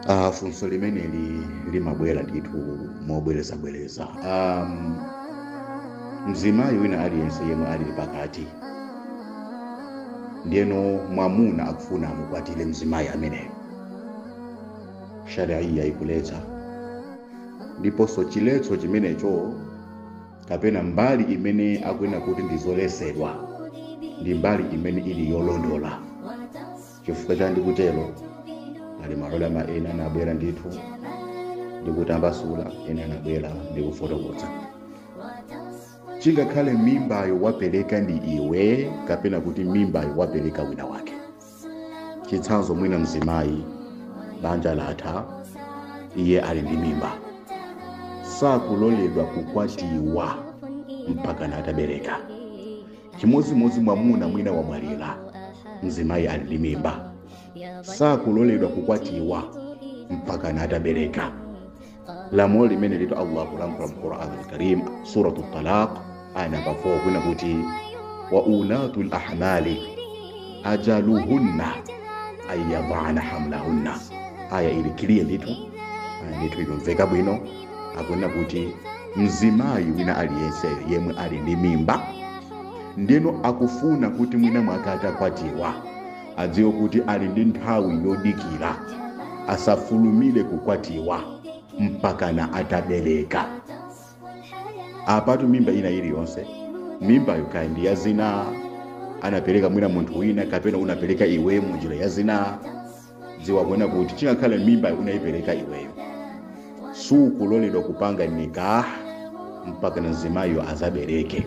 Uh, funso limeneli limabwera ndithu mobwerezabwereza um, mzimayi wina aliyense yemwe ali pakati ndiyeno mwamuna akufuna amukwatire mzimayi ameneyo shariya ikuletsa ndiponso chiletso chimenecho kapena mbali imene akunena kuti ndi zoletsedwa ndi mbali imene ili yolondola chifukwa cha ndikutero ali maulama ena anabwera ndithu ndikutambasula ena anabwera ndikufotokoza chingakhale mimbayo wapereka ndi iwe kapena kuti mimbayo wapereka wina wake chitsanzo mwina mzimayi banja latha iye ali ndi mimba sakuloledwa kukwatiwa mpakana atabereka chimodzimodzi mwamuna mwina wamwalira mzimayi ali ndi mimba sakuloledwa kukwatiwa mpakana atabereka lamulo limenelitu allah akulankhula mu quran alkarim suratu talaq aya namba 4 kunena kuti wa ulatu lahmali ajaluhunna ayadana hamlahunna aya ili clear ndithu ndithu ikumveka bwino akunena kuti mzimayi wina aliyense yemwe ali ndi mimba ndeno akufuna kuti mwina mwake atakwatiwa adziwe kuti ali ndi nthawi yodikira asafulumire kukwatiwa mpakana atabereka apatu mimba ina iliyonse mimbayo kaya ndi ya zina anapereka mwina munthu wina kapena unapereka iweyo mu njira ya zina dziwa kunena kuti chingakhale mimbayo unayipereka iweyo sukuloledwa kupanga nikah mpakana mzimayiyo azabereke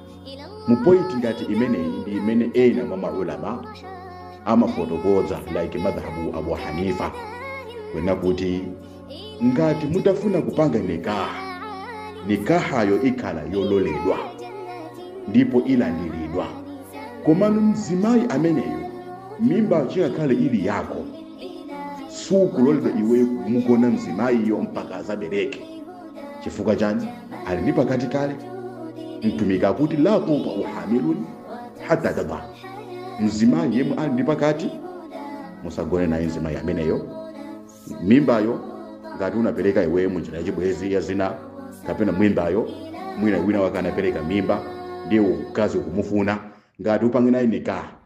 mu point ngati imeneyi ndi imene ena mwa maulama amafotokoza like madhhabu abu hanifa kunena kuti ngati mutafuna kupanga nikaha nikahayo ikhala yololedwa ndipo ilandiridwa komano mzimayi ameneyo mimbayo chingakhale ili yako sukuloledwa iweyo kumugona mzimayiyo mpaka azabereke chifukwa chani ali ndi pakati kale mtumiki akuti la tutau hamilun hata tadha mzimayi yemwe ali ndi pakati musagone naye mzimayi ameneyo mimbayo ngati unapereka iwe munjira yachibwezi ya zina kapena mimbayo mwina wina wake anapereka mimba ndiye mkazi ukumufuna ngati upange naye nikaha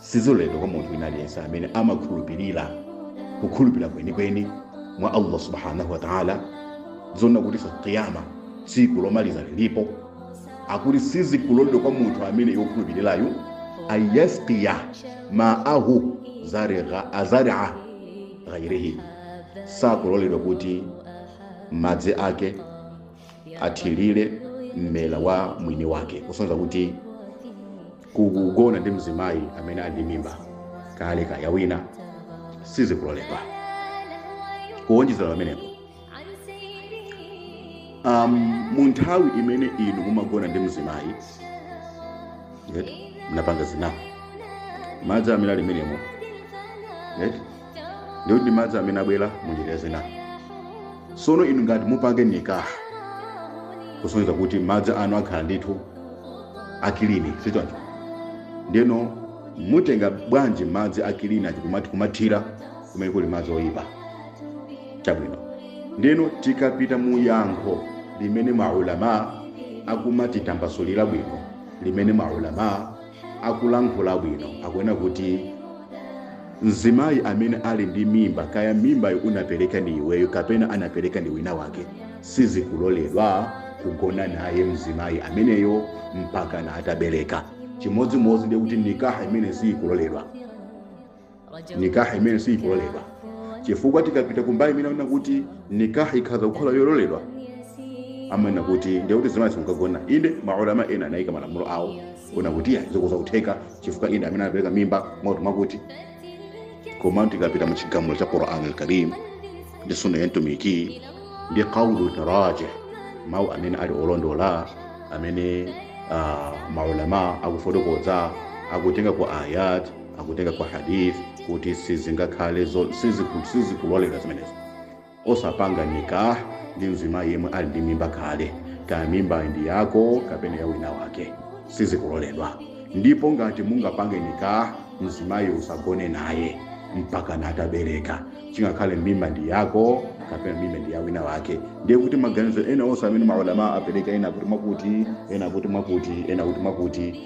siziloledwa kwa munthu wina aliyense amene amakhulupirira kukhulupirira kwenikweni mwa allah subhanahu wa taala zonna kuti tsa qiyama tsiku lomaliza lilipo akuti sizikuloledwa kwa munthu amene wokhulupirirayo ayasqiya maahu zariha- azaria ghairihi sakuloledwa kuti madzi ake athirire mmera wa mwini wake kusonyeza kuti kugona ndi mzimayi amene ali ndi mimba kale kaya wina sizikuloledwa kuwonjezera pamenepo um, mu nthawi imene inu mumagona ndi mzimayi munapanga zina madzi amene ali menemo ndiye kuti ndi madzi amene abwera mu njira ya zina sono inu ngati mupange nikaha kusonyeza kuti madzi anu akhala ndithu akilini sichoncho ndiyeno mutenga bwanji madzi akilini aja kumati kumathira kumene kuli madzi oyipa chabwino ndiyeno tikapita mu yankho limene maulama akumatitambasulira bwino limene maulama akulankhula bwino akunena kuti mzimayi amene ali ndi mimba kaya mimbayo unapereka ndi iweyo kapena anapereka ndi wina wake sizikuloledwa kugona naye mzimayi ameneyo mpaka na atabereka chimodzimodzi ndiye kuti nikaha imene siyikuloledwa nikaha imene siyikuloledwa chifukwa tikapita kumbali imene amanena kuti nikaha ikhoza kukhala yololedwa amanena kuti ndiye kuti mzimayi simukagona inde maulama ena anayika malamulo awo kunena kuti iya zikhoza kutheka chifukwa inde amene anapereka mimba mwakuti mwakuti koma tikapita mu chigamulo cha quran alkarim ndi sunna ya mtumiki ndi qaulu tarjih mawu amene ali olondola amene ah, maulama akufotokoza akutenga ku ayat akutenga kwa hadith kuti sizingakhale zo- siziku- sizikuloledwa zimenezo osapanga nikah ndi mzimayi yemwe ali ndi mimba kale kaya mimba ndi yako kapena ya wina wake sizikuloledwa ndipo ngati mungapange nikah mzimayi usagone naye mpaka natabereka chingakhale mimba ndi yako kapena mimba ndi ya wina wake ndiye kuti maganizo ena onse amene maulama apereka ena kuti mwakuti ena kuti mwakuti ena kuti mwakuti